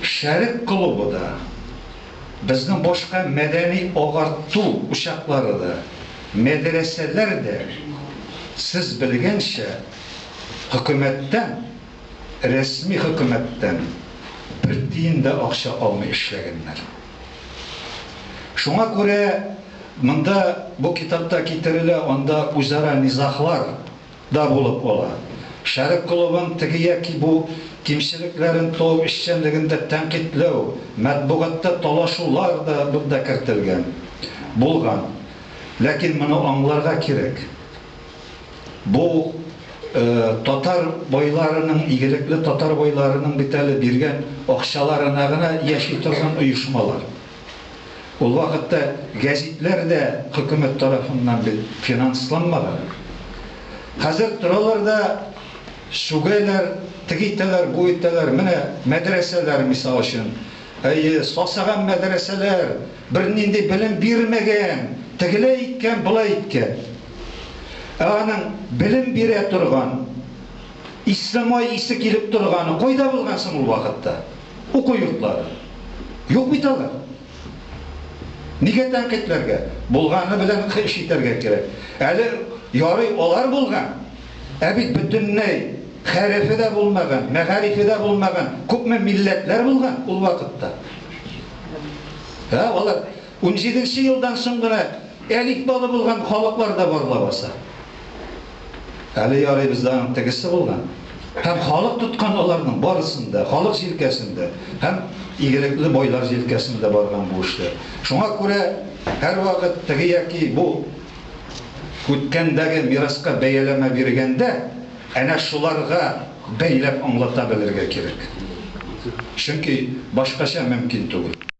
Шәрык клубы да, безнең башка мәдәни-агарту учаклары да, мәдрәсәләр дә, сез белгәнчә, хөкүмәттән, рәсми хөкүмәттән бер тиен дә акча алмый эшләгәннәр. Шуңа күрә монда, бу китапта китерелә, анда үзара низаглар. да булып кала. Шәрык клубын теге яки бу кимчелекләрен тол эшчәнлегендә тәнкыйтьләү, матбугатта талашулар да монда кертелгән, булган. Ләкин моны аңларга кирәк, бу татар байларының, игелекле татар байларының бит әле биргән акчаларына гына яши торган оешмалар. Ул вакытта гәзитләр дә хөкүмәт тарафыннан бит финансланмаган. Хәзер торалар да сүгәләр, теге итәләр, бу итәләр, менә мәдрәсәләр, мисал өчен, әйе, сасыган мәдрәсәләр, бернинди белем бирмәгән, тегеләй иткән, болай иткән. Ә аның белем бирә торган, ислемай исе килеп торганы кайда булган соң ул вакытта? Уку йортлары. Юк бит алар. Нигә тәнкыйтьләргә? Булганы белән эш итәргә кирәк. Әле ярый алар булган, ә бит бөтенләй хәрефе дә булмаган, мәгарифе дә булмаган күпме милләтләр булган ул вакытта. Ә алар Унҗиденче елдан соң гына элиталы булган халыклар да бар лабаса. Әле ярый бездә аның тегесе булган. Һәм халык тоткан аларның барысын да, халык җилкәсен дә һәм игелекле байлар җилкәсен дә барган бу эшләр. Шуңа күрә һәрвакыт теге яки бу үткәндәге мираска бәяләмә биргәндә, әнә шуларга бәйләп аңлата белергә кирәк. Чөнки башкача мөмкин түгел.